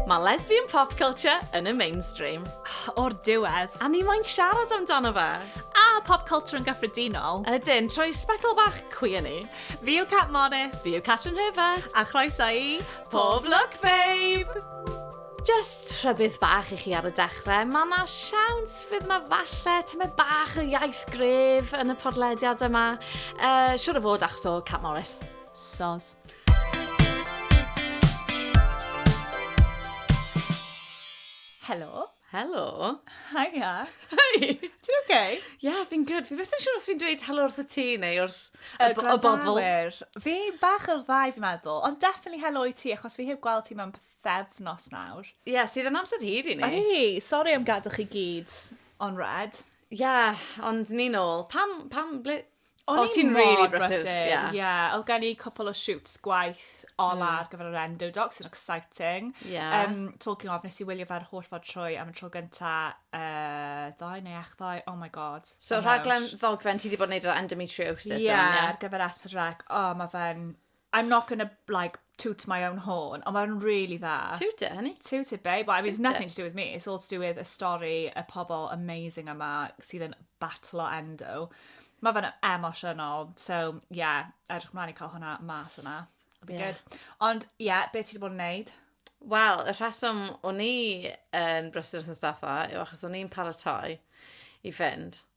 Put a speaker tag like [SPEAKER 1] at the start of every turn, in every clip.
[SPEAKER 1] Mae lesbian pop culture yn y mainstream. O'r diwedd, a ni moyn siarad amdano fe. A pop culture yn gyffredinol. Ydyn, trwy sbectol bach cwi yn ni. Fi yw Cat Morris. Fi yw Catrin Herbert. A chroeso i Pob Lwc Babe! Jyst rhybudd bach i chi ar y dechrau, mae yna siawns fydd yna falle tymed bach o iaith gref yn y podlediad yma. Uh, siwr o fod achos o Cat Morris. Sos. Helo. Helo. Hiya. Hi. Ti'n okay? Yeah, fi'n good. Fi beth yn siŵr os fi'n dweud helo wrth y ti neu wrth y, y bobl. Fi bach o'r ddau fi'n meddwl, ond definitely helo i ti achos fi heb gweld ti mewn pethefnos nawr. Ie, yeah, sydd yn amser hir i ni. Oi, sori am gadw chi gyd on red. Ie, yeah, ond ni'n ôl. Pam, pam, ble... O'n oh, ti'n really brysur. Ie, yeah. yeah. oedd gen i cwpl o shoots gwaith ola mm. ar gyfer yr endo doc, sy'n exciting. Yeah. Um, talking of, nes i wylio fe'r holl fod trwy am y tro gynta uh, ddoe neu ech ddoe, oh my god. So rhaglen ddogfen ti wedi bod yn neud ar endometriosis? Ie, yeah, ar gyfer S4C. Oh, mae fe'n I'm not gonna, like, toot my own horn, ond mae'n really dda. Toot it, honey. Toot it, babe. Well, I mean, it's nothing to do with me. It's all to do with y stori, y pobl amazing yma sydd yn batlo endo. Mae fe'n emosiynol. So, yeah, edrych mlaen i cael hwnna mas yna. It'll be yeah. good. Ond, yeah, beth ti wedi bod yn neud? Wel, y rheswm o'n i yn brysur wrth yn staffa yw achos o'n i'n paratoi i fynd.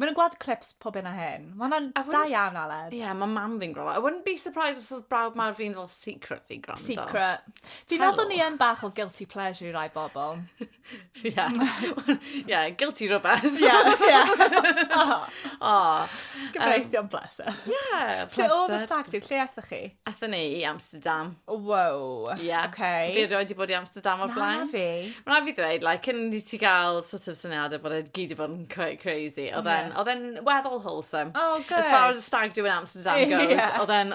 [SPEAKER 1] Mae'n gweld clips pob hyn a hyn. Mae hwnna'n da iawn, Aled. Ie, yeah, mae mam fi'n gwrando. I wouldn't be surprised os oedd brawd mawr fi'n fel secretly gwrando. Secret. Fi'n meddwl bod ni yn bach o guilty pleasure i rai bobl. Ie. Ie, guilty rhywbeth. Ie, ie. O. Gyfreithion bless. pleser. Ie, yeah, pleser. Lle oedd y stag do? Lle aethoch chi? Aethon ni i Amsterdam. Wow. Ie. Yeah. Okay. Fi roed i bod i Amsterdam o'r blaen. Na fi. Mae'n rhaid fi ddweud, like, cyn i ti gael sort of syniadau bod e gyd i bod yn quite crazy. Oedd e'n yeah. e'n weddol wholesome. Oh, good. As far as the stag do in Amsterdam goes, yeah. oedd e'n...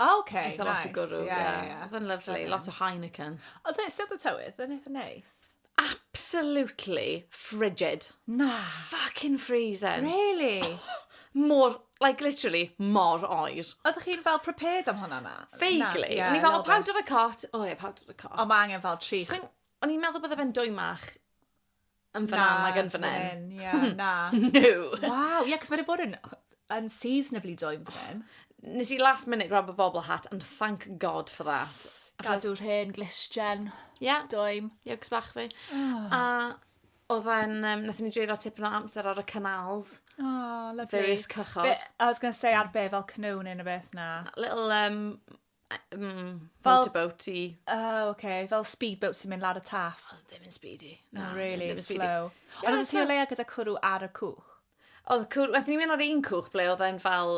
[SPEAKER 1] Oh, ok, nice. Eitha lot o gwrw, ie. Oedd e'n lyfli, lot o Heineken. Oedd e, sef y tywydd, oedd e'n eitha neis? Absolutely frigid. Na. Fucking freezing. Really? Oh, mor, like literally, mor oer. Oeddech chi'n fel prepared am hwnna na? Vaguely. O'n i fel, o, powder y cot. O ie, powder y cot. Ond mae angen fel tri... O'n i'n meddwl bod e fe'n dwy mach. yn fyna nag yn fan hyn. Ie, na. no. Wow, ie, yeah, cos mae wedi bod yn unseasonably doing fan hyn. Nes i last minute grab a bobl hat and thank God for that. Gadw rhên, glisgen, yeah. doim. Ie, yeah, cos bach fi. Oh. A oedd e'n, um, nath ni dreulio tipyn o amser ar y canals. Oh, lovely. Various cychod. Be, I was going to say ar be fel canoe neu beth na. Little um, Mm, fel... Boaty-boaty. O, oh, oce. Okay. Fel speedboat sy'n mynd lawr y taff. Oedd ddim yn speedy. No, no really, it was slow. Yeah, Ond oedd ti o leia gyda cwrw ar y cwch? Oedd cwrw, wedi ni'n mynd ar un cwch ble oedd e'n fel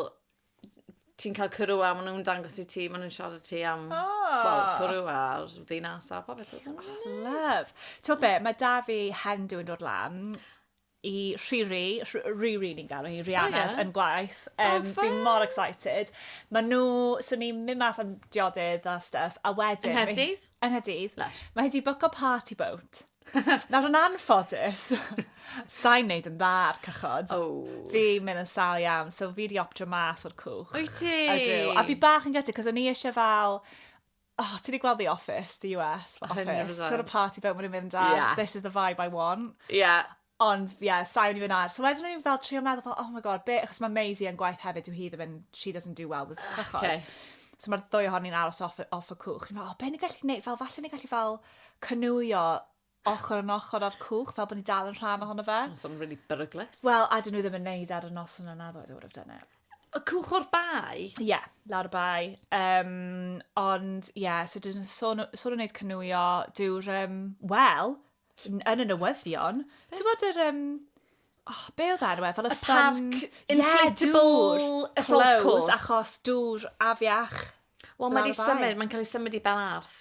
[SPEAKER 1] ti'n cael cwrw a maen nhw'n dangos i ti, maen nhw'n siarad ti am oh. Ah. well, cwrw a'r ddinas a popeth. Oh, love. Ti'n be, mae da fi hen dwi'n dod lan. i Rhiri, Rhiri ni'n gael hi, Rihanna, oh, yeah. yn gwaith. Um, oh, fi mor excited. Mae nhw, so ni'n mynd mas am diodydd a stuff, a wedyn... Yng Nghaerdydd? Yng Nghaerdydd. Mae hi wedi bwco party boat. Nawr yn anffodus, sa'n neud yn dda ar cychod. Oh. Fi mynd yn sal iawn, so fi wedi optio mas o'r cwch. Wyt ti? Ydw. A fi bach yn gyda, cos o'n i eisiau fel oh, ti wedi gweld The Office, The US Office. 100%. Ti'n gweld party bit wedi mynd ar, yeah. this is the vibe I want. Yeah. Ond, ie, yeah, sain i fy nair. So wedyn o'n i'n fel trio meddwl, oh my god, be, achos mae Maisie yn gwaith hefyd, yw hi ddim yn, she doesn't do well with cychod. Ah, okay. So mae'r ddwy ohon ni'n aros off, off y cwch. Ni'n meddwl, oh, be ni'n gallu gwneud? Fel, falle ni'n gallu fel cynwyo ochr yn ochr â'r cwch, fel bod ni dal yn rhan ohono fe. Mae'n swnio'n really beryglus. Wel, a dyn nhw ddim yn neud ar y nos yna na ddo, I would have done it. Y cwch o'r bai? Ie, yeah, lawr y bai. Um, ond, ie, yeah, so dyn nhw'n sôn, sôn yn neud cynwio, dyw'r, um, wel, yn y newyddion, ti'n bod yr, um, oh, be oedd enw e? Fel y, y parc inflatable yeah, assault course. Achos dŵr afiach. Wel, mae wedi symud, mae'n cael ei symud i Belarth.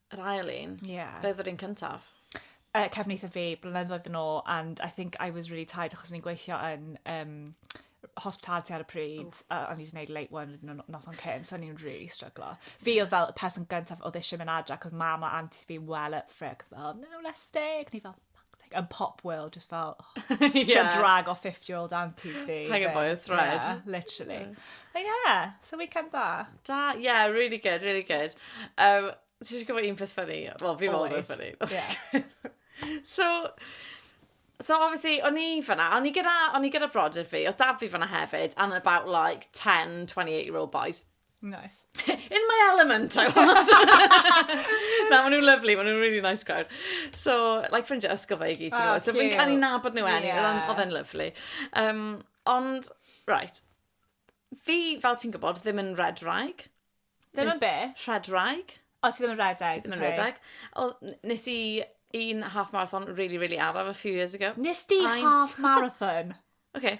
[SPEAKER 1] Yr ail un? Ie. Yeah. Beth oedd yr un cyntaf? Uh, cefn eitha fi, blynyddoedd yn ôl, and I think I was really tired achos ni'n gweithio yn um, hospitality ar y pryd, a o'n i wedi gwneud late one yn y nos o'n cyn, so o'n i'n really struglo. Fi oedd fel y person gyntaf oedd eisiau mynd adra, cos mam a anti fi'n well up for it, cos fel, no, let's stay. Ac ni fel, Like, yn pop world, just fel, oh, yeah. drag o 50-year-old aunties fi. Hang a boy's thread. Yeah, literally. Yeah. But yeah, so weekend da. Da, yeah, really good, really good. Um, Ti eisiau gwybod un peth ffynnu? Wel, fi fel yn ffynnu. Yeah. so, So obviously, o'n i fyna, o'n i gyda, o'n i gyda brodyr fi, o dad fi fyna hefyd, and about like 10, 28 year old boys. Nice. In my element, I was. Na, maen nhw'n lovely, maen nhw'n really nice crowd. So, like ffrindiau ysgol fe i gyd, ti'n gwybod. So, fi'n cael ei nabod nhw enni, oedd e'n lovely. Um, ond, right, fi, fel ti'n gwybod, ddim yn red rag. Ddim yn be? Red rag. O, ti ddim yn red rag. Ddim yn red rag. O, nes i un half marathon really, really araf a few years ago. Nes di half marathon? okay.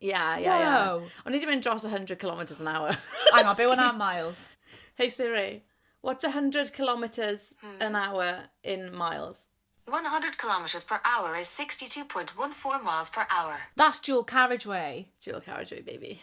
[SPEAKER 1] Ie, ie, ie. Wow. O'n i wedi mynd dros 100 kilometres an hour. Hang on, be hwnna yn miles? Hey Siri, what's 100 kilometres hmm. an hour in miles? 100 kilometres per hour is 62.14 miles per hour. That's dual carriageway. Dual carriageway, baby.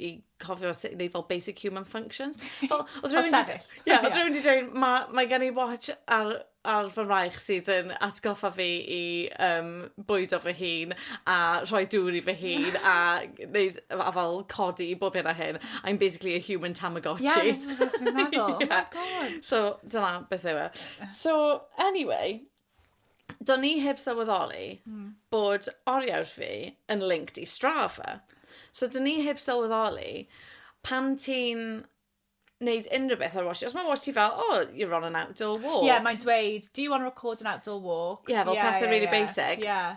[SPEAKER 1] i cofio sut i wneud fel basic human functions. Fel, oedd rhywun wedi... Ie, oedd rhywun wedi dweud, mae, mae gen i watch ar, ar fy mraich sydd yn atgoffa fi i um, bwydo fy hun a rhoi dŵr i fy hun a, neud, a fel codi i bob hyn a hyn. I'm basically a human Tamagotchi. Ie, yeah, that's what I meddwl. yeah. Oh my god. So, dyna beth yw e. So, anyway, do'n i heb sylweddoli mm. bod oriawr fi yn linked i Strava. So do'n i heb sylweddoli pan ti'n wneud unrhyw beth ar wash. Os mae wash ti fel, oh, you're on an outdoor walk. Ie, yeah, mae'n dweud, do you want to record an outdoor walk? Ie, yeah, fel yeah, pethau yeah, really yeah. basic. Ie. Yeah.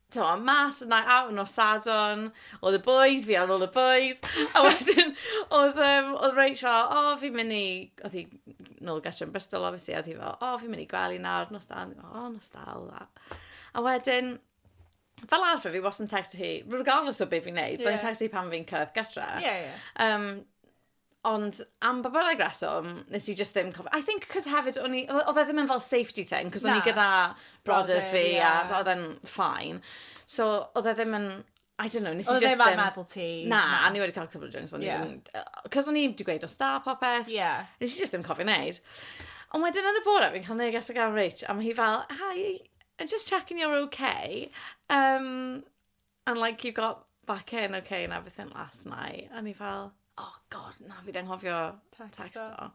[SPEAKER 1] t'mo, mas yna out nos Sadwrn, oedd y boys, fi ar ôl y boys, a wedyn oedd, um, oedd Rachel, fel, o, oh, fi'n mynd i, oedd hi nôl gytre yn Bristol, obviously, oedd hi fel, o, oh, fi'n mynd i gwely nawr, nos da, o, oh, nos da, all that. A wedyn, fel arfer, fi was yn texto hi, regardless o beth fi'n neud, yeah. fi'n texto hi pan fi'n cyrraedd gytre. Yeah, yeah. Um, Ond am ba bynnag reswm, nes i just ddim cofio. I think cos hefyd, o'n i... Oedd oedd e ddim yn fel safety thing, cos o'n i Na. gyda brodyr Brodyr, fi a ie. oedd e'n fine. So, oedd e ddim yn... I don't know, nes i Oedd e just ddim ar ddim... meddwl ti. Na, o'n i wedi cael cwpl o drinks, o'n i Ie. ddim... Cos o'n i wedi gweud wrth staff a popeth. Ie. Nes i just ddim cofio wneud. Ond wedyn yn y bore, fi'n cael neges o gan Rach, a ma' hi fel, Hi, I'm just checking you're okay. Yym... And like you got back in ok and everything last night. A o'n i fel, oh God, na, fi 'di anghofio tecsto.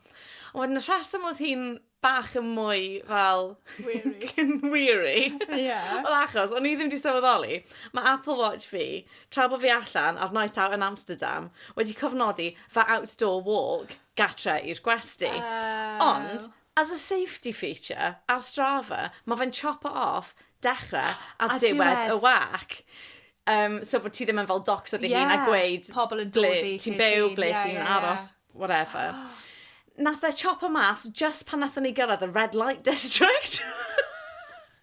[SPEAKER 1] Ond wedyn y rheswm oedd hi'n bach yn mwy fel... Weary. weary. Ie. Wel achos, o'n i ddim wedi sylweddoli, mae Apple Watch fi, tra bod fi allan ar night out yn Amsterdam, wedi cofnodi fy outdoor walk gatre i'r gwesti. Oh. Ond, As a safety feature ar Strava, mae fe'n chop off dechrau a, a diwedd y wac. Um, so bod ti ddim yn fel docs o dy yeah. hun a gweud pobl yn dod i ti'n byw, ble yeah, ti'n yeah, aros, yeah. whatever. Oh. Nath e chop o mas just pan nath ni gyrraedd y red light district.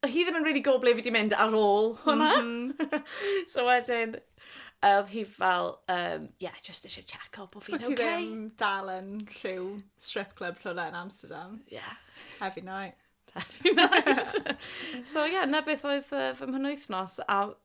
[SPEAKER 1] Oedd hi ddim yn rili gwybod ble fi 'di mynd ar ôl hwnna. So wedyn oedd hi fel yym ie jyst isie checo bo' fi'n ok. Bo' ti ddim dal yn rhyw strip club rhywle yn Amsterdam. Ie. Every night. Every night. So ie 'na beth oedd yy fy mhenwythnos a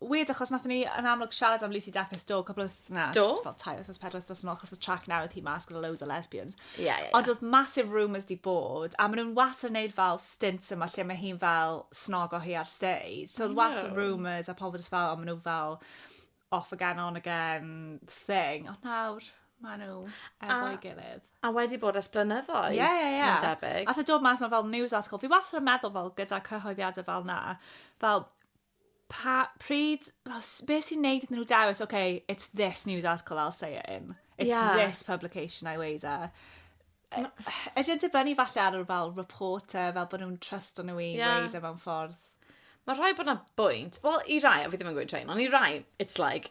[SPEAKER 1] weird achos nath ni yn amlwg siarad am Lucy Dacus do, cwbl o na, do? fel tair wythnos, pedwar wythnos yn ôl, achos y track newydd hi mas gyda loads o lesbians. Ie, yeah, ie, yeah, Ond oedd massive rumours di bod, a maen nhw'n was yn neud fel stints yma lle mae hi'n fel snog o hi ar stage. So oedd was no. rumours a pobl jyst fel, o maen nhw fel off again, on again thing. Ond nawr, maen nhw efo'i gilydd. A wedi bod ers blynyddoedd. Ie, ie, ie. Mae'n debyg. A fe dod mas mae fel news article. Fi wastad yn meddwl fel gyda cyhoeddiadau fel na, fel Pa, pryd, fel, s- be sy'n neud iddyn nhw dewis, OK, it's this news article I'll say it in. It's Ie. this publication I weighed e. Ydy yn dibynnu falle ar yr fel reporter, fel bod nhw'n trust o'n nhw i Ie. weid e mewn ffordd. Mae rhai bod na bwynt. Wel, i rai, a fi ddim yn gweud rhain, ond i rai, it's like,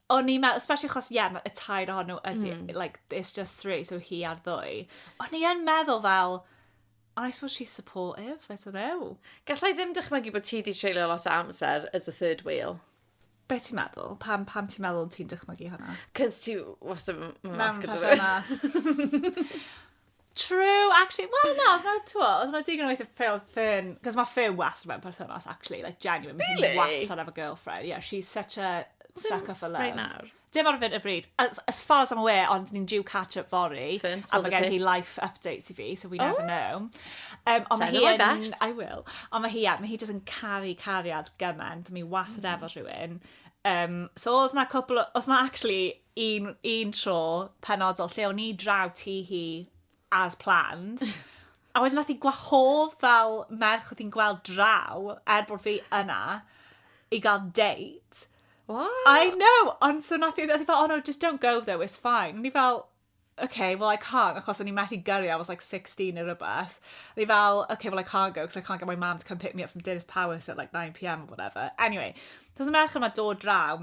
[SPEAKER 1] O'n i'n meddwl, especially achos, ie, yeah, y tair ohon nhw ydy, mm. like, it's just three, so hi ar ddwy. O'n i'n meddwl fel, I suppose she's supportive, I don't know. Gallai ddim dychmygu bod ti wedi treulio lot o amser as a third wheel. Be ti'n meddwl? Pam, pam ti'n meddwl ti'n dychmygu hwnna? Cos ti wastad yn masg o dweud. True, actually, wel na, oedd na, ti'n gwybod, oedd na digon o weithio ffeil ffyn, cos mae ffeil was mewn perthynas, actually, like, genuine, mae hi'n was on have a girlfriend, yeah, she's such a sucker for love. Right nawr. Dim ar fynd y bryd, as, as far as I'm aware, ond ni'n due catch-up fori, Ffyn, a mae gen hi life updates i fi, so we never oh. know. Um, ond mae hi yn, I will, ond mae hi, mae hi just yn caru cariad gymaint, mae hi was mm. efo rhywun. Um, so oedd na cwpl, oedd na actually, un, un tro penodol lle o'n i draw ti hi as planned. A wedyn nath i gwahodd fel merch oedd hi'n gweld draw, er bod fi yna, i gael date. What? I know, ond so nath i, nath i fel, oh no, just don't go though, it's fine. Ni fel, okay, well I can't, achos o'n i methu gyrru, I was like 16 neu rhywbeth. Ni fel, okay, well I can't go, because I can't get my mum to come pick me up from Dennis Powis at like 9pm or whatever. Anyway, so oedd y merch yma dod draw,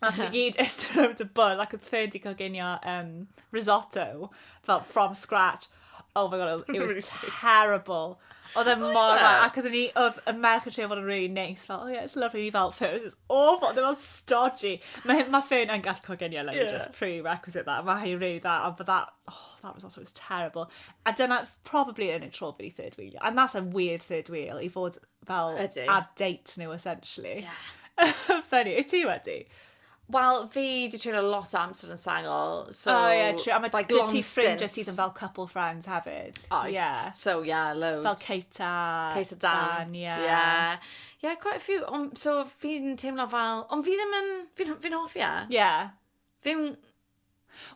[SPEAKER 1] A ni gyd ystod rownd y bwrdd ac oedd Fer wedi coginio um, risotto fel from scratch. Oh my god, it was terrible. Oedd e mor dda, ac oedd ni, oedd y merch yn trio fod yn really nice, fel, oh yeah, it's lovely, ni fel, Fer, it's awful, ddim ond stodgy. Mae, mae Fer yn gallu coginio, like, yeah. just prerequisite that, mae hi'n really dda, ond but that, oh, that was also, it was terrible. A dyna, probably yn y tro fi third wheel, and that's a weird third wheel, i fod fel Ydy. ar date nhw essentially. Yeah. Funny, wyt ti wedi? Wel, fi di treulio lot o amser yn sengl, so... O ie, true. A mae like, dwyt ti long ffrindiau stints. sydd yn fel couple friends hefyd. Oes. Ie. So, yeah, loads. Fel Kate a... Kate a Dan. ie. Yeah. Yeah, quite a few. Ond, so, fi'n teimlo fel... Ond fi ddim yn... Fi'n fi'n hoffi e. Ie. Ddim...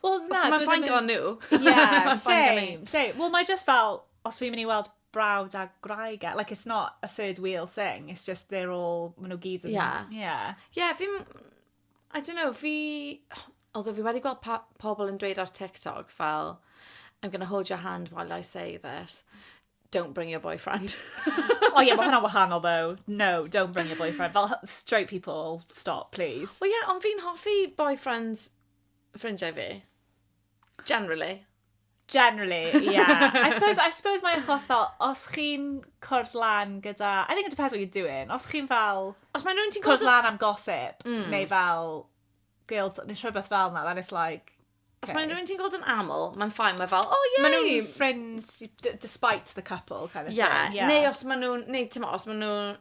[SPEAKER 1] Wel, na... Os mae'n fine gyda nhw. Ie, same, same. Wel, mae just fel, os fi'n mynd i weld brawd a gwraig, e, like, it's not a third wheel thing, it's just they're all, maen nhw gyd yn... Ie. Ie. Ie, fi'n... I don't know, fi... Although fi wedi gweld pa- pobl yn dweud ar TikTok fel, I'm going to hold your hand while I say this. Don't bring your boyfriend. o ie, mae hwnna'n wahanol though. No, don't bring your boyfriend. Fel straight people, stop, please. O ie, ond fi'n hoffi boyfriends ffrindiau fi. Generally. Generally, yeah. I suppose, I suppose mae achos fel, os chi'n cwrdd lan gyda... I think it depends what you're doing. Os chi'n fel... Os mae nhw'n ti'n cwrdd lan am gossip, mm. neu fel guilt, neu rhywbeth fel na, then it's like, Os okay. mae'n rhywun ti'n gweld yn aml, mae'n ffain, mae fel, oh yeah. Mae nhw'n ffrind despite the couple kind of yeah. thing. Yeah. Neu os mae nhw'n, neu ti'n os mae nhw'n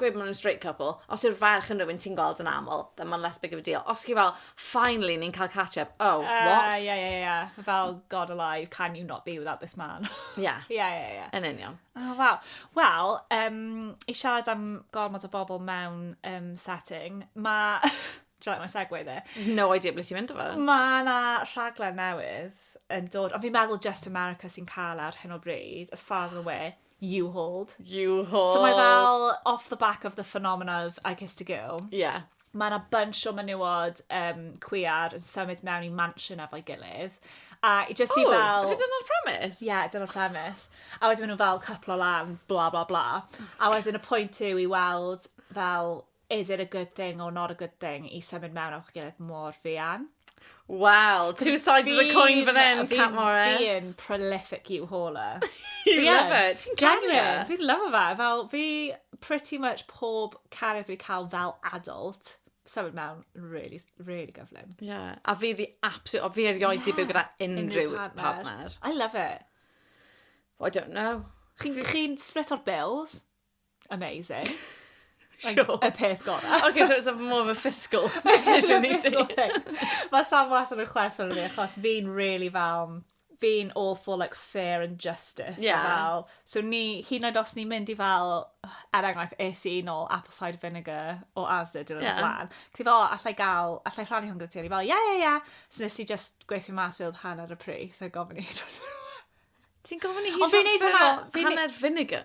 [SPEAKER 1] gweud maen nhw'n straight couple, os yw'r ferch yn rhywun ti'n gweld yn aml, then mae'n less big of a deal. Os chi fel, finally, ni'n cael catch-up, oh, uh, what? Ie, ie, ie. Fel, God alive, can you not be without this man? Ie. Ie, ie, ie. Yn union. Oh, wow. Wel, um, i siarad am gormod o bobl mewn um, setting, mae... Try my segue there. No idea ble ti'n mynd o fe. Mae yna rhaglen newydd yn dod, ond fi'n meddwl Just America sy'n cael e ar hyn o bryd, as far as I'm aware, You Hold. You Hold. So mae fel off the back of the phenomena of I Kissed a Girl. Ie. Yeah. Mae yna bunch o menywod um, cwiar yn symud mewn i mansion efo'i gilydd. A i just i oh, fel... Oh, dyna'r premis? Ie, yeah, dyna'r premis. A wedyn maen nhw fel cyplo lan, bla bla bla. A wedyn y pwynt yw i weld fel is it a good thing or not a good thing i symud mewn o'ch gilydd mor fuan? Wel, two sides of the coin fan hyn, Cat Morris. Fi'n prolific you hauler. you love it. Ti'n caru e? Fi'n love fe. Fel, fi pretty much pob cariad fi cael fel adult symud mewn really, really gyflym. Yeah. A fi the absolute, fi erioed yeah. i byw gyda unrhyw partner. partner. I love it. Well, I don't know. Chi'n chi split o'r bills? Amazing. Like, sure. Y peth gorau. OK, so it's a more of a fiscal decision i ti. Mae Sam was yn y chwerth o'n fi, achos fi'n really fel, fi'n all for like fair and justice. Yeah. Fel, so ni, hyn yn oed os ni'n mynd i fel, er enghraifft, es i nôl apple cider vinegar o Asda dyn nhw'n yeah. blaen. Cyd o, allai gael, allai rhannu hwn gyda ti, o'n i fel, yeah, yeah, yeah. So nes i just gweithio mas beth oedd hanner y pris, so gofyn i. Ti'n gofyn i hi transfer hanner vinegar?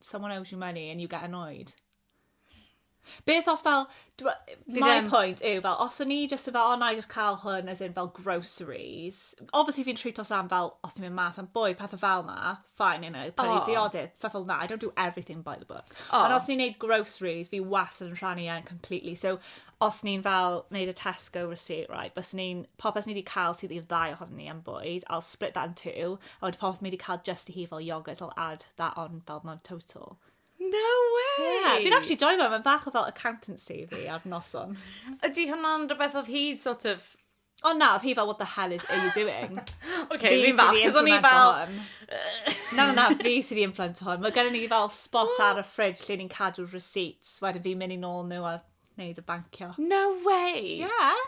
[SPEAKER 1] someone owes you money and you get annoyed. Beth os fel, my ddim... point yw fel, os o'n i just yn fel, oh, na i just cael hwn as in fel groceries. Obviously fi'n treat os am fel, os ti'n mynd mas am bwy, pethau fel na, fine, you know, prynu oh. diodydd, stuff fel na, I don't do everything by the book. Oh. Ond os ni'n neud groceries, fi was yn rhannu e'n completely. So, os ni'n fel wneud y Tesco receipt, right, bys ni'n, popeth ni wedi cael sydd i'r ddau ohono ni am bwyd, I'll split that in two, a wedi popeth ni wedi cael just i hi fel yogurt, I'll add that on fel my total. No way! Yeah, fi'n actually joy fe, mae'n bach o fel accountancy fi ar noson. Ydy hwnna'n rhywbeth oedd hi sort of O na, oedd hi fel, what the hell is, are you doing? OK, fi fi'n falch, cos o'n i fel... na, na, na, fi sydd i influence hwn. Mae gen i fel spot oh. ar y ffridge lle ni'n cadw receipts, wedyn fi'n mynd i nôl nhw a wneud y bancio. No way! Yeah.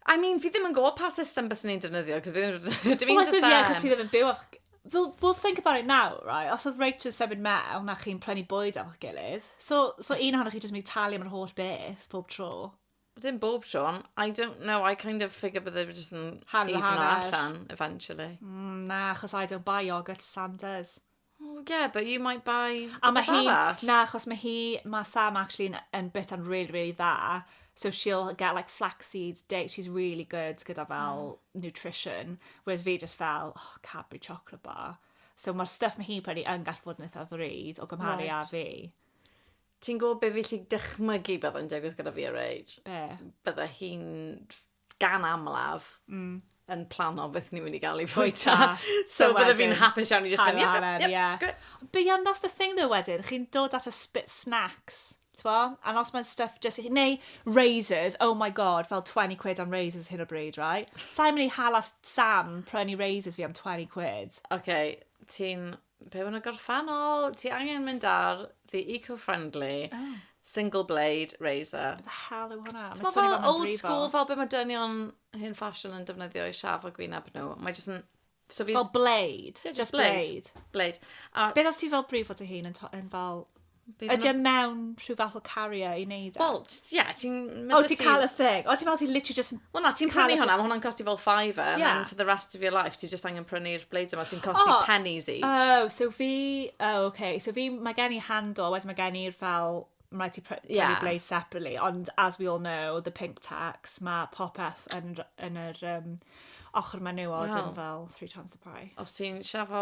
[SPEAKER 1] I mean, fi ddim yn gwybod pa system bys ni'n defnyddio, cos fi ddim yn defnyddio dim un system. Wel, yeah, cos ti ddim yn byw af... We'll, we'll think about it now, right? Os oedd Rachel's symud mewn a chi'n prynu bwyd a'ch gilydd, so, so un ohonoch chi jyst mynd i talu am yr holl beth pob tro. Ddim bob tro, ond I don't know, I kind of figure bydde fi jyst yn Hanner even o hanner. allan, eventually. Mm, na, achos I don't buy yoghurt to Sam does. Oh, yeah, but you might buy A mae rhywbeth hi... arall. Na, achos mae hi... Mae Sam actually yn, yn bit yn really, really dda. So she'll get like flax seeds, dates. She's really good gyda fel nutrition. Whereas fi just fel, oh, Cadbury chocolate bar. So mae'r stuff mae hi'n prynu yn gallu bod yn eitha ddrud o gymharu â Right. fi. Ti'n gwybod be fi lli dychmygu byddai'n digwydd gyda fi a Rage? Be? Bydde hi'n gan amlaf mm. yn plano beth ni'n mynd i gael i fwyta. so bydde fi'n hapus iawn i just mynd, yep, yep, yeah. Great. But yeah, that's the thing though wedyn, chi'n dod at a spit snacks. Twa? And os mae'n stuff just... Neu razors, oh my god, fel 20 quid am razors hyn o bryd, right? Sa'n mynd i hala Sam prynu razors fi am 20 quid. Okay, ti'n be maen nhw'n gorffennol? Ti angen mynd ar the eco-friendly oh. single blade razor. Be the hell yw hwnna? Ti'n meddwl fel old school, fel be mae dynion hyn fashion yn defnyddio i siaf o gwyneb nhw. Mae jyst yn... So fi... Fel blade. Yeah, just, just blade. blade. blade. A... Beth os ti fel brifo dy hun yn, yn fel Bydd Ydy e yna- mewn rhyw fath o carrier i neud e? Wel, t- ie, ti'n... ma' O, da ti'n ti- cael y thing. O, ti'n meddwl ti literally just... Wel na, ti'n prynu hwnna, mae hwnna'n costi fel fiver, and Yeah. then for the rest of your life, ti just angen prynu'r bleid yma, ti'n costi O! pennies each. Oh, so fi... Oh, okay. So fi, mae gen i handle, wedyn mae gen i'r fel... Mae rhaid ti pr- prynu Yeah. blaze separately, ond as we all know, the pink tax, mae popeth yn, r- yn yr um, ochr menywod Wel. yn fel three times the price. Os ti'n siafo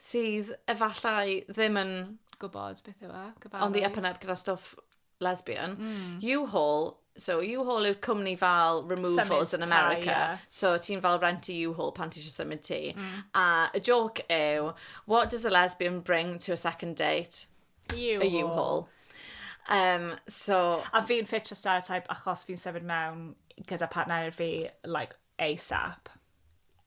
[SPEAKER 1] sydd efallai ddim yn... Gwybod beth yw e, gyfarwydd. ...on the up and up gyda stwff lesbian. U-Haul, so U-Haul yw'r cwmni fel removals yn America. Symud tai, ie. So ti'n fel rent i U-Haul pan ti eisiau symud tŷ. A y jôc yw, what does a lesbian bring to a second date? U-Haul. A U-Haul. Um, so... A fi'n ffitio stereotype achos fi'n symud mewn gyda partner fi, like, ASAP.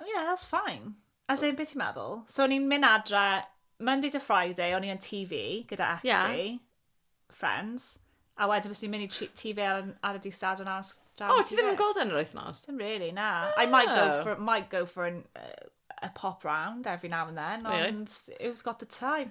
[SPEAKER 1] Oh yeah, that's fine. As in, beth ti'n meddwl? So o'n i'n mynd adre Monday to Friday, o'n i yn TV gyda ex yeah. fi, friends, a wedyn fes i'n mynd i TV ar, ar y di stad o'n as... O, oh, ti ddim yn gweld yn yr wythnos? Dim really, na. Oh. I might go oh. for, might go for an, uh, a pop round every now and then, ond yeah. you've got the time.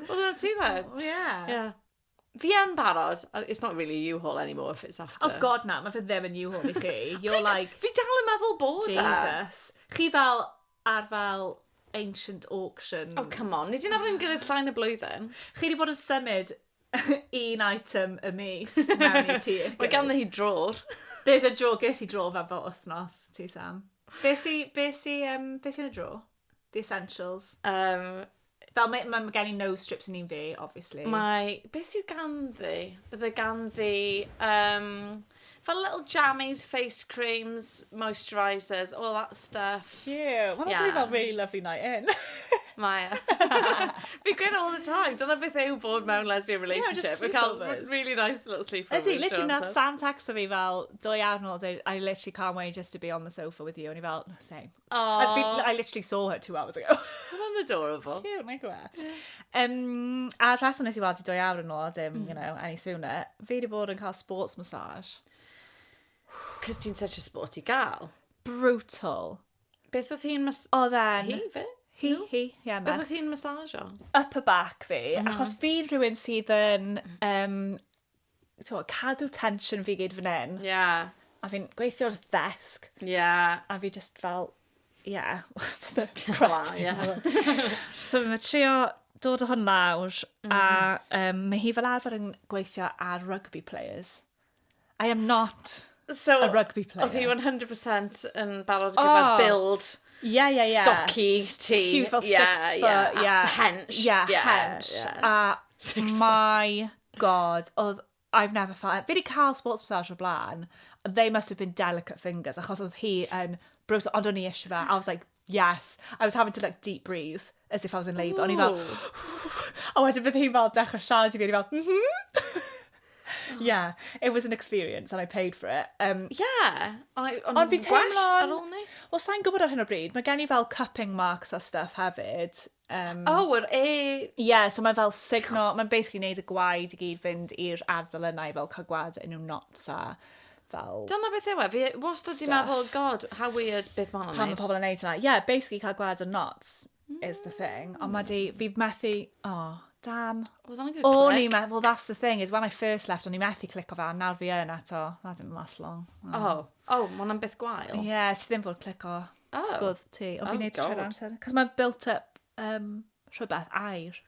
[SPEAKER 1] Oedd hwnna'n ti then? O, ie. Ie. Fi yn barod. Uh, It's not really a U-Haul anymore if it's after. Oh god na, mae fe ddim yn you hwn i chi. You're Pryd- like, Fi dal yn meddwl bod e. Jesus. Chi fel, ar fel ancient auction. Oh, come on. Ni di nabod yn gilydd llai na blwyddyn. Chi wedi bod yn symud un item y mis mewn i ti. Mae ganddo hi drôr. There's a draw, ges i draw fan fel wythnos, ti Sam. Be si, be si, um, be si yn y draw? The essentials. Um, Fel mae, mae gen i nose strips yn un fi, obviously. Mae... Beth sydd ganddi? Bydde ganddi... Um, fel little jammies, face creams, moisturisers, all that stuff. Cute. Mae'n yeah. fel really lovely night in. Mae e. Fi'n gweud all the time, dyna beth yw bod mewn lesbian relationship. Fi'n cael really nice little sleepovers. Ydy, literally na Sam texto fi fel, do i arnol, I literally can't wait just to be on the sofa with you. O'n i fel, no, same. Aww. I literally saw her two hours ago. Mae'n adorable. Cute, mae'n gwybod. Um, a rhaswn nes i weld i dwy awr yn ôl, dim, mm. you know, any sooner. Fi wedi bod yn cael sports massage. Cos ti'n such a sporty gal. Brutal. Beth oedd hi'n mas... Oedd e'n... Hi, fe? Hi, no? hi, ie, yeah, Beth oedd hi'n massage o? Upper back fi, mm. achos fi'n rhywun sydd yn um, t'mo' cadw tensiwn fi gyd fan 'yn. Ie. A fi'n gweithio wrth ddesg. Ie. A fi jyst fel ie. So ma' trio dod o hwn lawr mm. a um, mae hi fel arfer yn gweithio ar rugby players. I am not so, a rugby player. Oedd hi 100% yn barod gyda'r oh. build yeah, yeah, yeah. stocky ti. Huge fel yeah, six foot, yeah. yeah. Hench. Yeah, yeah, hench. Yeah. A mae God, oedd, I've never felt... Fi wedi cael sports massage o'r blaen, they must have been delicate fingers, achos oedd hi yn brwys, ond o'n i eisiau fe, I was like, yes. I was having to like deep breathe, as if I was in labour, o'n i fel, a wedyn bydd hi'n fel dechrau siarad i fi, o'n i fel, mhm. Yeah, it was an experience and I paid for it. Um, yeah, ond fi'n teimlo... Well, sa'n gwybod ar hyn o bryd, mae gen i fel cupping marks a stuff hefyd, Um, o, yr e... Ie, yeah, so mae fel signo, mae'n basically neud y gwaed i gyd fynd i'r ardal yna i fel cael gwaed yn nhw'n knots a fel... Dyna beth yw e, fi wastad di meddwl, god, how weird, beth mae'n Pan mae pobl yn neud yna. Ie, yeah, basically cael gwaed yn knots mm. is the thing. Ond mae di, fi methu, oh, damn. Oedd o'n good click. O'n i methu, well that's the thing, is when I first left, o'n i methu click o fe, nawr fi yn eto, that didn't last long. Oh, oh, oh mae hwnna'n beth gwael. Ie, yeah, ti ddim fod click o Oh. Gwrdd ti. O, fi'n neud trwy'r amser. Cos mae'n built up um, rhywbeth air.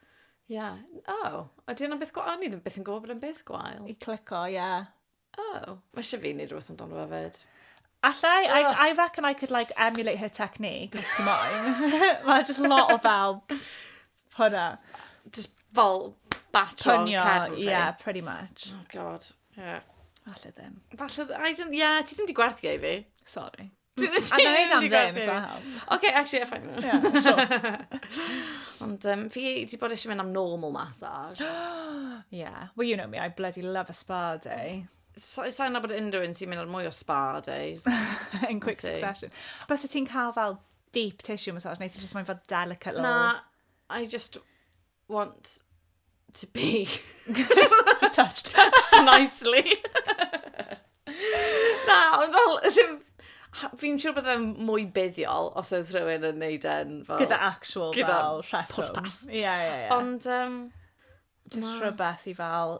[SPEAKER 1] Ie. Yeah. Oh. A di yna beth gwael? O'n i ddim beth yn gwybod bod yn beth gwael. I clico, ie. Yeah. Oh. Mae eisiau fi wneud rhywbeth amdano fe fyd. Allai, oh. I, I reckon I could like emulate her technique, os ti moyn. Mae just lot o fel hwnna. Just fel batro Pynio, cefn. Yeah, pretty much. Oh god. Yeah. Falle ddim. Falle, I don't, yeah, ti ddim di gwerthio i fi. Sorry. Dwi ddim A na i am ddim, if that helps. OK, actually, if I... Yeah, sure. Ond um, fi wedi bod eisiau mynd am normal massage. yeah. Well, you know me, I bloody love a spa day. Sa'n sa nabod unrhyw un sy'n mynd ar mwy o spa days. In quick succession. Bas y ti'n cael fel deep tissue massage, neu ti'n just mae'n fel delicate little... Na, I just want to be touched, touched nicely. Na, ond fel, sy'n... Fi'n siŵr bod e'n mwy buddiol os oedd rhywun yn neud e'n fel... Gyda actual Gyda fel rheswm. pwrpas. Ie, ie, ie. Ond, um, Just Na. rhywbeth i fel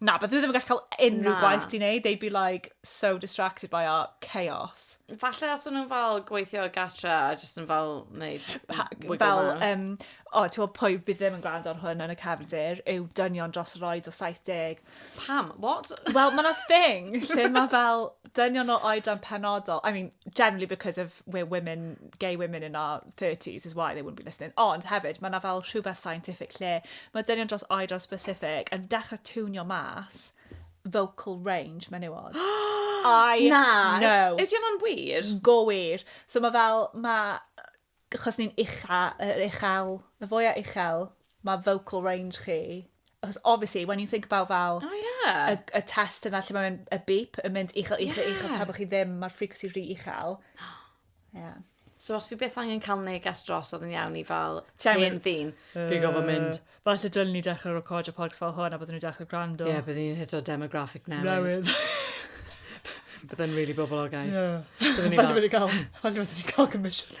[SPEAKER 1] Na, bydden nhw ddim yn gallu cael unrhyw gwaith ti'n neud. They'd be like so distracted by our chaos. Falle os o'n nhw'n fel gweithio gatra a jyst yn fel neud wiggle fel, mouse. Um, o, ti'n gwybod pwy bydd ddim yn gwrando ar hwn yn y cefndir yw dynion dros yr oed o 70. Pam? What? Wel, mae'n a thing lle mae fel dynion o oedran penodol. I mean, generally because of we're women gay women in our 30s is why they wouldn't be listening. Ond hefyd, mae yna fel rhywbeth scientific lle mae dynion dros oed dros specific yn dechrau tunio mas vocal range menywod. I Na. know. Ydy hwnna'n wir? Go wir. So mae fel, mae, achos ni'n ucha, yr uchel, y fwyaf uchel, mae vocal range chi, achos obviously, when you think about fel... O ie! ...y y test yna lle mae'n y beep yn mynd uchel uchel uchel... Ie! ...tra bo chi ddim, ma'r frequency rhy uchel. Ie. So os fi byth angen ca'l neges dros odd yn iawn i fel Ti angen... hen ddyn. Yy. Fi gorfod mynd. Falle dylen ni dechre recordio podlets fel hwn a bydden nhw'n dechre grando. Ie bydden ni'n hito demographic newydd. Newydd. Bydde'n rili boblogaidd. Ie. Bydden ni fel... Falle fydden ni ca'l falle fydden ni ca'l comisiwn.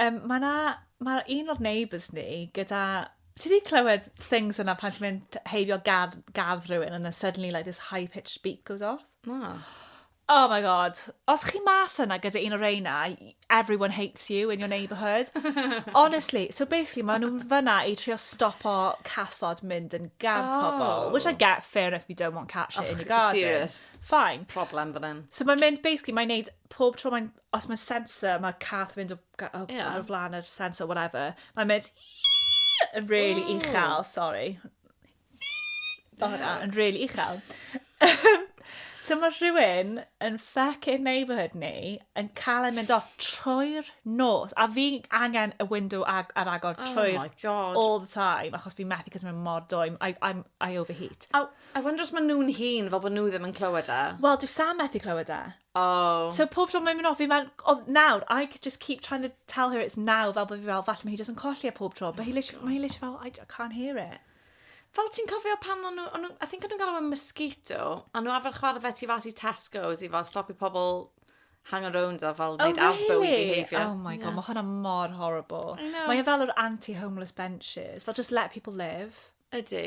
[SPEAKER 1] Yym ma' 'na ma' un o'r neighbours ni gyda... Ti 'di clywed things yna pan ti'n mynd t- heibio gardd gardd rhywun and then suddenly like this high pitched beep goes off? Na. Oh my God. Os chi mas yna gyda un o reina, y- everyone hates you in your neighbourhood. Honestly, so basically ma' nw fynna i trio stopo cathod mynd yn gardd pobol. Oh. Which I get, fair enough, you don't want cat shit in your garden. serious. Fine. Problem fan 'yn. So mae'n mynd, basically, mae'n neud pob tro mae'n os mae sensor, mae cath yn mynd o, o, yeah. ar flaen yr sensor, whatever, mae'n mynd yn really oh. uchel, sorry. Fel yna, yn really uchel. so mae rhywun yn fucking neighbourhood ni yn cael ei mynd off trwy'r nos, a fi angen y window ag, ar agor oh trwy'r oh all the time, achos fi'n methu cos mae'n mor dwy, I, I'm, I overheat. I, I wonder os maen nhw'n hun fel bod nhw ddim yn clywed e. Wel, dwi Sam methu clywed e. Oh. So pob tro mae'n mynd off, fi mae'n, oh, nawr, I could just keep trying to tell her it's now, fel bod fi fel, falle mae hi jyst yn colli e pob tro, but he oh literally, mae hi literally fel, I, I can't hear it. Fel ti'n cofio pan o'n nhw, I think o'n nhw'n galw mosquito, a nhw arfer chwarae fe ti fas i Tesco's i fel stopio pobl hang around a fel oh, wneud really? asbo i behaviour. Oh my god, yeah. mae hwnna mor horrible. Mae e fel yr anti-homeless benches, fel just let people live. Ydy.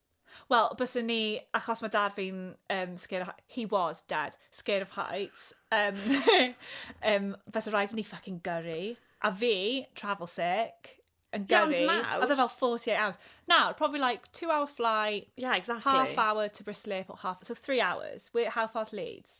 [SPEAKER 1] Wel, byswn ni, achos mae dad fi'n um, scared of, he was, dad, scared of heights, um, um, fysa rhaid ni fucking gyrru. A fi, travel sick, yn Ie, ond gyrru. nawr- Oedd e fel 48 hours. Nawr, probably like two hour flight, Yeah, exactly. half hour to Brislip or half, so three hours. Where, how far's Leeds?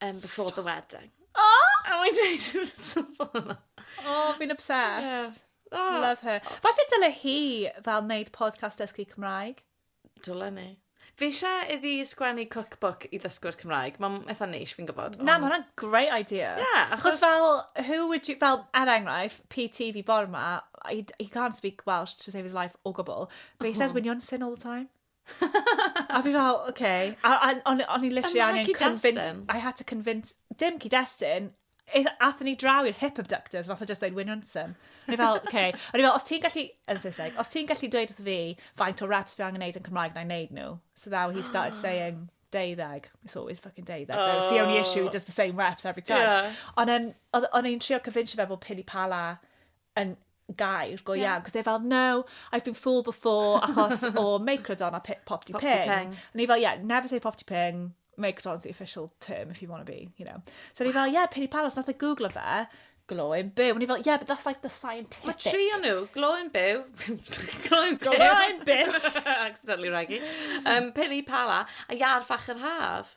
[SPEAKER 1] Um, before Stop. the wedding. Oh! A mae'n dweud yn y tymor yma. Oh, fi'n obsessed. Yeah. Oh. Love her. Falle dyle hi fel wneud podcast dysgu Cymraeg. Dyle ni. Fi eisiau iddi sgwennu cookbook i ddysgwyr Cymraeg. Mae'n eitha neis, fi'n gwybod. Na, mae hwnna'n great idea. Yeah, achos... achos fel, who would you, fel, er enghraifft, PT fi bor ma, he, he can't speak Welsh to save his life o gwbl, but he says oh. winion sin all the time. a fi fel, oce. Okay. A, a o'n, on i literally angen convince... I had to convince... Dim cyd-destun. Athyn ni draw i'r hip abductors, nath o just dweud, wyn hwnsyn. O'n i fel, oce. Okay. O'n i fel, os ti'n gallu... Yn Saesneg. Os ti'n gallu dweud wrth fi faint o reps fi angen neud yn Cymraeg, na'i neud nhw. So now he started saying deuddeg. It's always fucking deuddeg. Oh. It's the only issue, he does the same reps every time. Yeah. Ond um, o'n i'n trio convince fe bod pili pala yn gair go iawn, cos they're fel, no, I've been fooled before, achos o Microdon a Pop Pop Ping. Ping. O'n i fel, yeah, never say Pop Ping, Microdon's the official term if you want to be, you know. So o'n i fel, yeah, Peri Palos, nath e googlo fe, glowing byw. O'n i fel, yeah, but that's like the scientific. Mae tri o'n nhw, glowing byw, glowing byw. Glowing byw. Accidentally raggy. Um, Peri Pala, a Iar Fach yr Haf.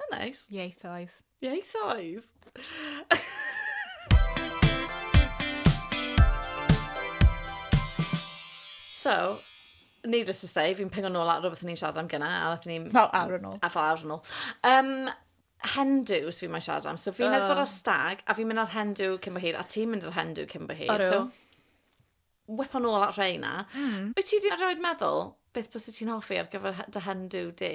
[SPEAKER 1] Mae'n neis. Ieithoedd. Ieithoedd! so, needless to say, fi'n pengo nôl at rhywbeth ni'n siarad am gyna, a nath ni'n... Fel awr yn ôl. A fel awr yn ôl. Um, hendws fi'n mynd siarad am. So fi'n oh. edrych ar stag, a fi'n mynd ar hendw cyn bo hir, a ti'n mynd ar hendw cyn bo hir. So, Whipo nôl at rheina. Mm. Wyt ti 'di erioed meddwl beth byse ti'n hoffi ar gyfer dy hen dw di?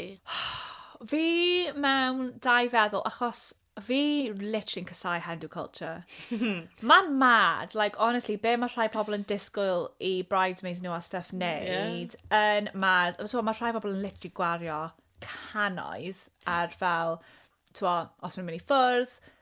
[SPEAKER 1] Fi mewn dau feddwl, achos fi literally'n casau hen dw culture. Mae'n mad, like, honestly, be mae rhai pobl yn disgwyl i bridesmaids nhw a stuff wneud, yn mad. So, mae rhai pobl yn literally gwario canoedd ar fel, twa, os mae'n mynd i ffwrdd,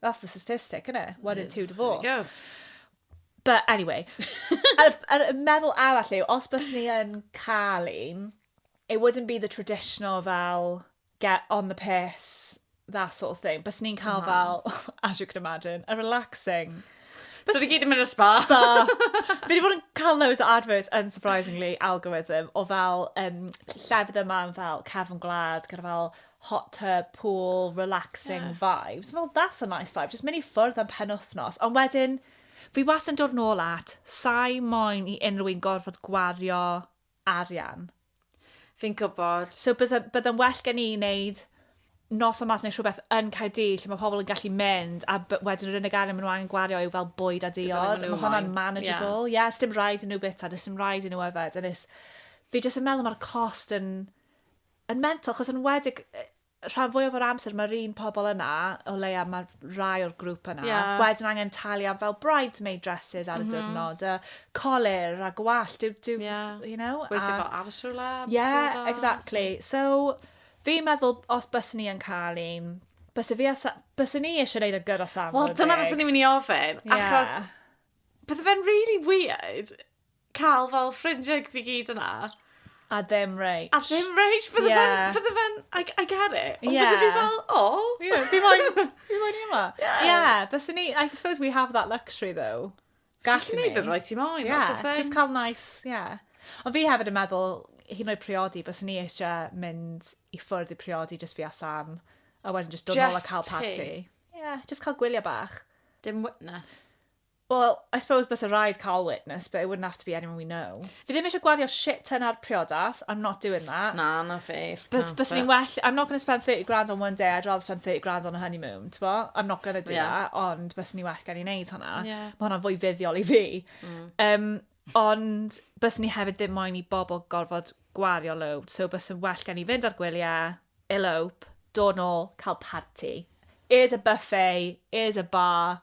[SPEAKER 1] That's the statistic, isn't it? One in two divorce. There you go. But anyway, yr, yr meddwl arall yw, os bys ni yn cael un, it wouldn't be the traditional fel get on the piss, that sort of thing. Bys ni'n cael no. fel, as you can imagine, a relaxing. Bys... So ni gyd yn mynd o spa. Spa. Fi wedi bod yn cael loads o adverts, unsurprisingly, algorithm, o fel um, llefydd yma fel cefn gwlad, gyda fel hot tub, pool, relaxing yeah. vibes. Well, that's a nice vibe. Just mynd i ffwrdd am pen wythnos. Ond wedyn, fi was yn dod nôl at, sai moyn i unrhyw un gorfod gwario arian. Fi'n gwybod. So byddai'n bydda well gen i wneud nos o mas neu rhywbeth yn Caerdydd lle mae pobl yn gallu mynd a wedyn yr unig arian maen nhw angen gwario yw fel bwyd a diod. Mae hwnna'n manageable. Ie, yeah. yeah, dim rhaid yn nhw bita, dim rhaid yn nhw yfed. Fi jyst yn meddwl mae'r cost yn yn mental, chos yn wedig rhan fwyaf o'r amser mae'r un pobl yna, o leia mae rai o'r grŵp yna, yeah. wedyn angen talu am fel bridesmaid dresses ar y mm -hmm. diwrnod, a colir a gwall, do, do, yeah. you know? Weithio fel aros rhywle. Yeah, exactly. So, fi'n meddwl, os bys ni yn cael un, bys fi asa, bys ni eisiau gwneud y gyda safon. Wel, dyna bys ni'n mynd i ofyn, yeah. achos bydde fe'n really weird cael fel ffrindiau fi gyd yna. A ddim rage. A ddim rage. Bydde yeah. fe'n... Bydde fe'n... I, I get it. Ond yeah. bydde fi fel, oh. Yeah, fi moyn... fi moyn i yma. Yeah. Yeah, bys ni... I suppose we have that luxury though. Gallu ni. Just ni beth rhaid ti moyn. Yeah, just cael nice, yeah. Ond fi hefyd yn meddwl, hyn o'i priodi, bys ni eisiau mynd i ffwrdd i priodi just fi a Sam, a wedyn just dod nôl a cael party. Ie, yeah, just cael gwylio bach. Dim witness. Wel, I suppose byse rhaid cael witness, but it wouldn't have to be anyone we know. Fi ddim eisiau gwario shit ton ar priodas, I'm not doing that. Na, na fi. But byse ni'n well, I'm not going to spend 30 grand on one day, I'd rather spend 30 grand on a honeymoon, ti'n bo? I'm not going to do yeah. that, ond byse ni'n well gen i wneud hwnna. Yeah. Mae hwnna'n fwy fuddiol i fi. Mm. Um, ond byse ni hefyd ddim moyn i bobl gorfod gwario load, so byse well gen i fynd ar gwyliau, elope, dod nôl, cael party. Is a buffet, is a bar,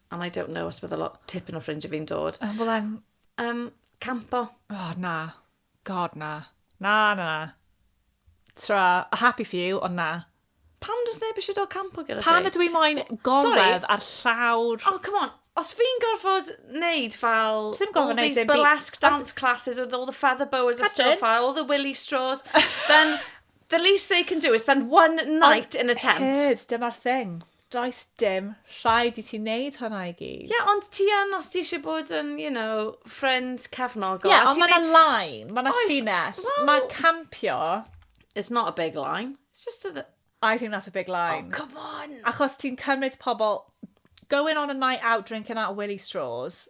[SPEAKER 1] and I don't know os bydd a lot tipyn o ffrindiau fi'n dod. Oh, well I'm... Um, campo. Oh, na. God, na. Na, na, na. Tra, happy for you, ond na. Pam does neb eisiau dod campo gyda ti? Pam ydw i moyn golwedd ar llawr... Oh, come on. Os fi'n gorfod neud fel... Ti'n gorfod neud dim byd. All these burlesque dance classes with all the feather boas and stuff, all the willy straws, then the least they can do is spend one night in a tent. Herbs, dyma'r thing. Does dim rhaid i ti neud hwnna i gyd. Ie, ond ti yn os ti eisiau bod yn, you know, ffrind cefnogol. Ie, ond mae yna line, mae yna ffinell. Mae campio... It's not a big line. It's just a... I think that's a big line. Oh, come on! Achos ti'n cymryd pobl... Going on a night out drinking out of Willie straws...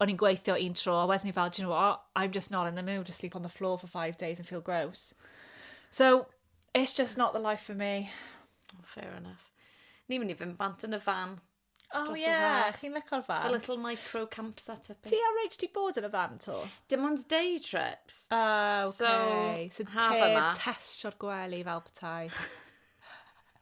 [SPEAKER 1] o'n i'n gweithio un tro, a wedyn i fel, do you know what, I'm just not in the mood to sleep on the floor for five days and feel gross. So, it's just not the life for me. Oh, fair enough. Ni'n mynd i fynd bant yn y fan. Oh, ie, yeah. chi'n lyco'r fan. A little micro camp set up. Ti a Rach di bod yn y fan to? Dim ond day trips. Oh, okay. So, so haf yma. Test o'r gwely fel petai.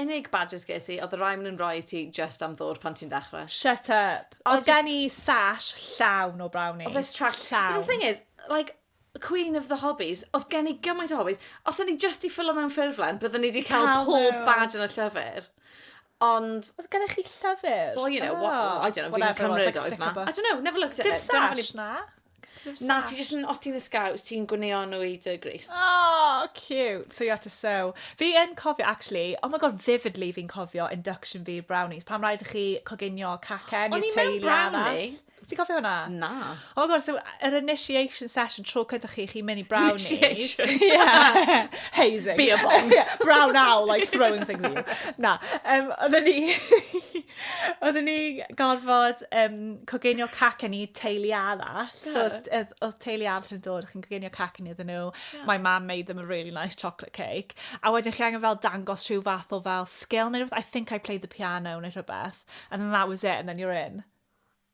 [SPEAKER 1] Unig badges ges i oedd y rai maen nhw'n rhoi i ti jyst am ddŵr pan ti'n dechrau. Shut up! I Oedd gen just- i sash llawn o brownies. Oedd e trash llawn. But the thing is, like, queen of the hobbies, oedd gen i gymaint o hobbies, os o'n i jyst 'di ffylo mewn ffurflen, bydden i 'di cael Cael pob nhw. badge yn y llyfr. Ond, Oedd gennych chi llyfr? well, you know, what, I don't know, fi'n Whatever it was, cymryd like oedd sticker 'na. book. I don't know, never looked at Dim it. Dyna fan sash i- na? Na, ti jyst yn, os ti'n ysgaw, ti'n gwneo nhw i dy gris. Oh, cute. So you had to sew. Fi yn cofio, actually, oh my god, vividly fi'n cofio induction fi brownies. Pam rhaid i chi coginio cacen i'r teulu brownie? Ti'n cofio hwnna? Na. Oh my god, so yr initiation session tro cynta chi, chi'n mynd i brownies. Initiation? yeah. Hazing. Be a bomb. yeah, brown owl, like throwing things at you. Na. Um, oedden ni... oedden ni gorfod um, coginio cacen i teulu arall. Yeah. So, oedd teulu arall yn dod, chi'n coginio cacen iddyn nhw. Yeah. My mum made them a really nice chocolate cake. A wedyn chi angen fel dangos rhyw fath o fel skill neu rhywbeth. I think I played the piano neu rhywbeth. And then that was it, and then you're in.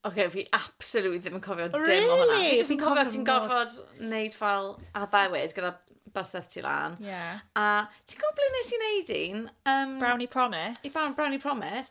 [SPEAKER 1] Oce, okay, fi absolutely ddim yn cofio really? dim o hwnna. Fi jyst yn cofio ti'n gofod wneud fel addewid gyda baseth ti lan. Yeah. A ti'n gwybod ble nes i wneud un? Um, Brownie Promise. I Brownie Promise.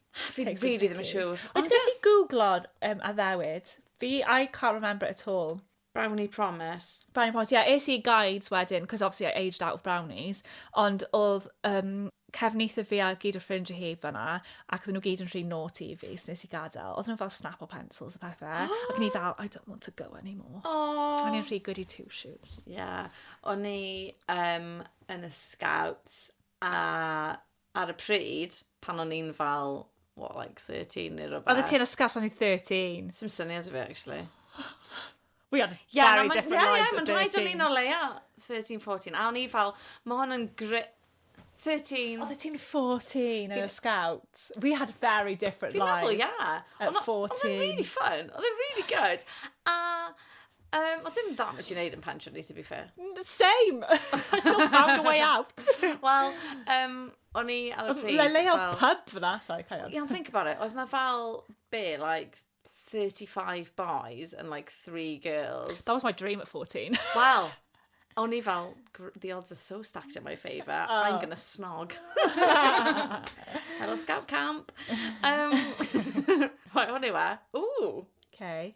[SPEAKER 1] Fi Take some rili ddim yn pictures. siŵr. Wyt Ond ti'n ie. gallu googlo'r um, addewid? Fi, I can't remember it at all. Brownie promise. Brownie Promise, ie, yeah, es i i guides wedyn, cos obviously I aged out of brownies, ond oedd um, cefnithr fi a gyd o ffrindiau hi fanna, ac oedden nhw gyd yn rhy naughty i fi, so nes i gadael. Oedden nhw fel snapple pencils a pethau, ac ni fel, I don't want to go anymore. Oh. O'n i'n rhy goody two shoes. Ie. O'n i um, yn y scouts a ar y pryd, pan o'n i'n fel, what, like 13 neu rhywbeth. Oeddet ti yn ysgol pan ti'n 13? Sim syniad i fi, actually. We had yeah, very different yeah, lives yeah, at 13. Mae'n rhaid o'n i'n o leia 13, 14. A o'n i fel, mae hon yn grit... 13. Oeddet ti'n 14 yn y Scouts. We had very different lives. Fi'n meddwl, yeah. At 14. Oedd e'n really fun. Oedd e'n really good. A Um, o dim da beth ti'n neud yn pensiwn ni, to be fair. Same! I still found a way out. Wel, um, o'n i ar y pryd... Le le o'r fel- pub fyna, sorry, carry on. Yeah, think about it. Oedd na fel, be, like, 35 boys and like 3 girls. That was my dream at 14. Wel, o'n i fel, gr- the odds are so stacked in my favour, I'm gonna snog. Hello, scout camp. Um, right, hwn yw e. Ooh, Okay.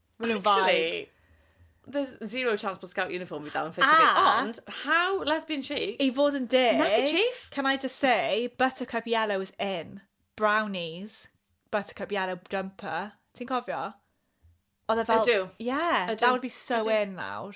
[SPEAKER 1] Maen nhw'n vibe. Actually, there's zero chance bod scout uniform fi dal yn ffitio fi. A- Ond, how lesbian chic? I fod yn deg... Nappy chief? Can I just say, buttercup yellow is in. Brownies, buttercup yellow jumper. Ti'n cofio? Oedd e fel... Ydw. Yeah, Ydw. that would be so Ydw. in nawr.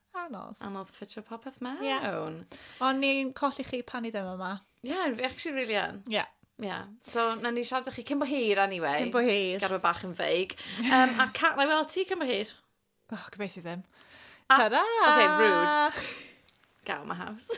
[SPEAKER 1] Anodd. Anodd ffitio popeth mewn. Ie. Ond ni'n colli chi pan ni ddim yma. Ie, yeah, fi actually really yn. Ie. Yeah. Ie. Yeah. So, na ni siarad â chi cyn bo hir anyway. Cyn bo hir. Gadw e bach yn feig. Um, a Cat, na i weld ti cyn bo hir. Oh, gobeithio ddim. A- Ta-ra! Okay, rude. Get out of my house.